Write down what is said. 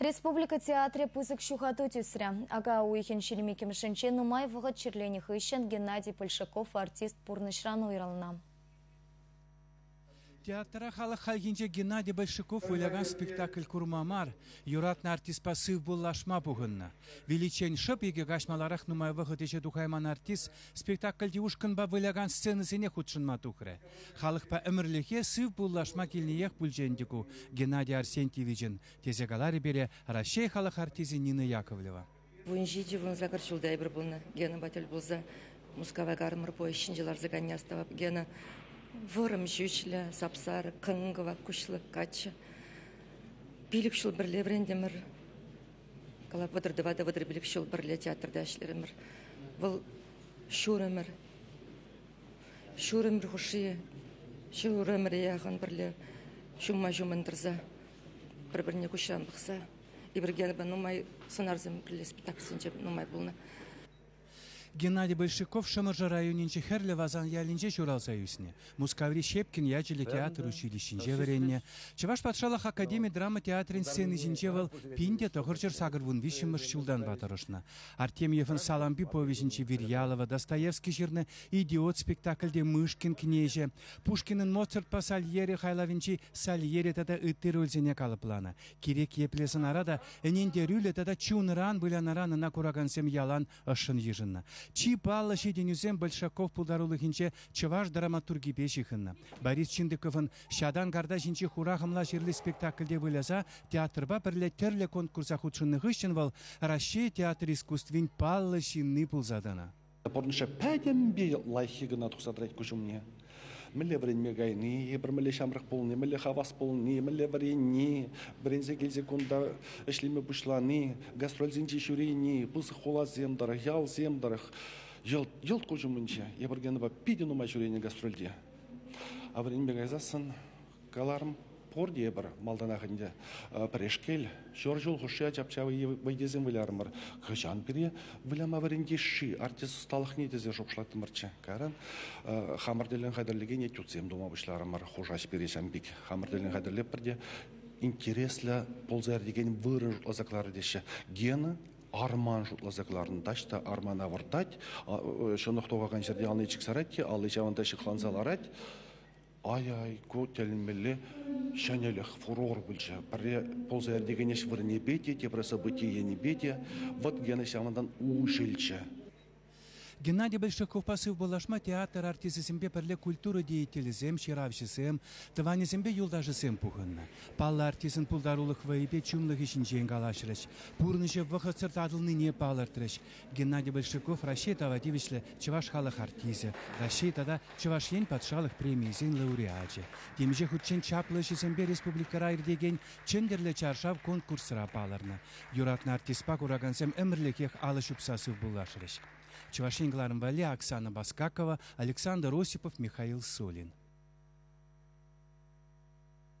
Республика театрӗ пысӑк ҫухату тӳсрӗ. Ака уйӑхӗн ҫирмиккӗмӗшӗнче нумай вӑхӑт чирленӗ хыҫҫӑн Геннадий Польшаков артист пурнӑҫран уйрӑлнӑ. Театра халӑх хальхинче Геннадий Большаков вылякан спектакль курма мар, юратнӑ артистпа сывпуллашма пухӑннӑ. Виличчен шӑп икӗ каҫ маларах нумай вӑхӑт ӗҫе тухайман артист спектакльти ушкӑнпа вылякан сценӑсене хутшӑнма тухрӗ. Халӑхпа ӗмӗрлӗхе сыв пуллашма килниех пулчӗ ӗнтӗ ку, Геннадий Арсентьевичӑн, тесе каларӗ пире Раҫҫей халӑх артисчӗ Нина Яковлева. Вун ҫичӗ, вун сакӑр ҫулта эпир пулнӑ Генӑпа тӗл пулса Мускава кармӑр поезд ҫинче ларса кайни астӑвап. Гена вӑрӑм ҫӳҫлӗ, сап-сарӑ, кӑн-кӑвак куҫлӑ каччӑ. Пилӗк ҫул пӗрле вӗрентӗмӗр. Калап вӑтӑр тӑватӑ вӑтӑр пилӗк ҫул пӗрле театрта ӗҫлерӗмӗр. Вӑл ҫурӑмӗр. Ҫурӑмӗр хушши ҫӗр-ҫурӑмӑр яхӑн пӗрле ҫумма-ҫуммӑн тӑрса пӗр-пӗрне куҫран пӑхса Ибрагимовпа нумай сӑнарсем кӗрле спектакльсенче нумай пулнӑ. Геннадий Большаков Шӑмӑршӑ районӗнчи Хӗрлӗ Васан ялӗнче ҫуралса ӳснӗ. Мускаври Щепкин ячӗллӗ театр училищинче вӗреннӗ. Чӑваш патшалӑх академи драма театрӗн сцени ҫинче вӑл пин те тӑхӑрҫӗр сакӑр вун виҫҫӗмӗш ҫултанпа тӑрӑшнӑ. Артемьевӑн Салампи повеҫӗнчи Вирьялова, Достоевский ҫырнӑ Идиот спектакльте Мышкин кнеҫӗ, Пушкинӑн Моцартпа Сальери хайлавӗнчи Сальери тата ытти рольсене калӑпланӑ. Кирек епле сӑнара та ӗнентерӳллӗ тата чунран вылянӑран ӑна куракансем ялан ӑшшӑн йышӑннӑ. Чи паллӑ ҫитӗнӳсем Большаков пултарулӑхӗнче чӑваш драматургипе ҫыхӑннӑ. Борис Чиндыковӑн Ҫатан-карта ҫинчи хура-хӑмла ҫырли спектакльте выляса театрпа пӗрле тӗрлӗ конкурса хутшӑннӑ хыҫҫӑн вӑл Раҫҫей театр искусствин паллӑ ҫынни пулса тӑнӑ. Пурнӑҫа пӗтӗмпе лайӑххи кӑна тухса тӑрать куҫ умне. Мӗнле вӗренме кайни, пӗр мӗнле ҫамрӑк пулни, мӗнле хавас пулни, мӗнле вӗренни, вӗренсе килсе кунта ӗҫлеме пуҫлани, гастрольсенче ҫӳрени, пысӑк хуласем тӑрӑх, ялсем тӑрӑх, йӑлт, йӑлт куҫ умӗнче. Эпӗр Генӑпа питӗ нумай ҫӳренӗ гастрольте. А вӗренме кайсассӑн каларӑм, пурте пӗр малтанах ӗнтӗ пӗрешкел, ҫор ҫул хушши ачап-чапа вӑййисем вылярӑмӑр. Хӑҫан пире выляма вӗрентесши артист ӑсталӑхне тесе шухӑшлаттӑмӑрччӗ. Кайран хамӑр тӗллӗн хатӗрлекен этюдсем тума пуҫларӑмӑр. Хушаҫ пире ҫам пек. Хамӑр тӗллӗн хатӗрлеппӗр те интереслӗ пулса ир текен вырӑн ӑса кӑларӗ теҫҫӗ. Гена арман шутласа кӑларнӑ таҫта армана выртать, ҫӑнӑх тухакан ҫӗрте алли чиксарать те алли ҫавӑнта ҫыхланса ларать. Ай-ай, ку тӗлӗнмелле ҫӗнӗлӗх, фурор пулчӗ. Пӗрре пулса иртекен ӗҫ вырӑнӗпе те, тепре событие енӗпе те вӑт гена ҫавӑнтан уҫӑлчӗ. Геннадий Большаковпа сывпуллашма театр артисӗсемпе пӗрле культура деятелӗсем, ҫыравҫӑсем, тӑванӗсемпе юлташӗсем пухӑннӑ. Паллӑ артистӑн пултарулӑх вӑйӗпе чунлӑхӗ ҫинчен калаҫрӗҫ, пурнӑҫӗ вӑхӑтсӑр татӑлнине палӑртрӗҫ. Геннадий Большаков Раҫҫей тава тивӗҫлӗ чӑваш халӑх артисӗ, Раҫҫей тата Чӑваш Ен патшалӑх премийӗсен лауреачӗ. Темиҫе хутчен чаплӑ ӗҫӗсемпе республикӑра иртекен Чӗнтӗрлӗ чаршав конкурсра палӑрнӑ. Юратнӑ артистпа куракансем ӗмӗрлӗхех алӑ ҫупса сывпуллашрӗҫ. Чӑваш Ен кӑларӑм валли Оксана Баскакова, Александр Осипов, Михаил Сулин.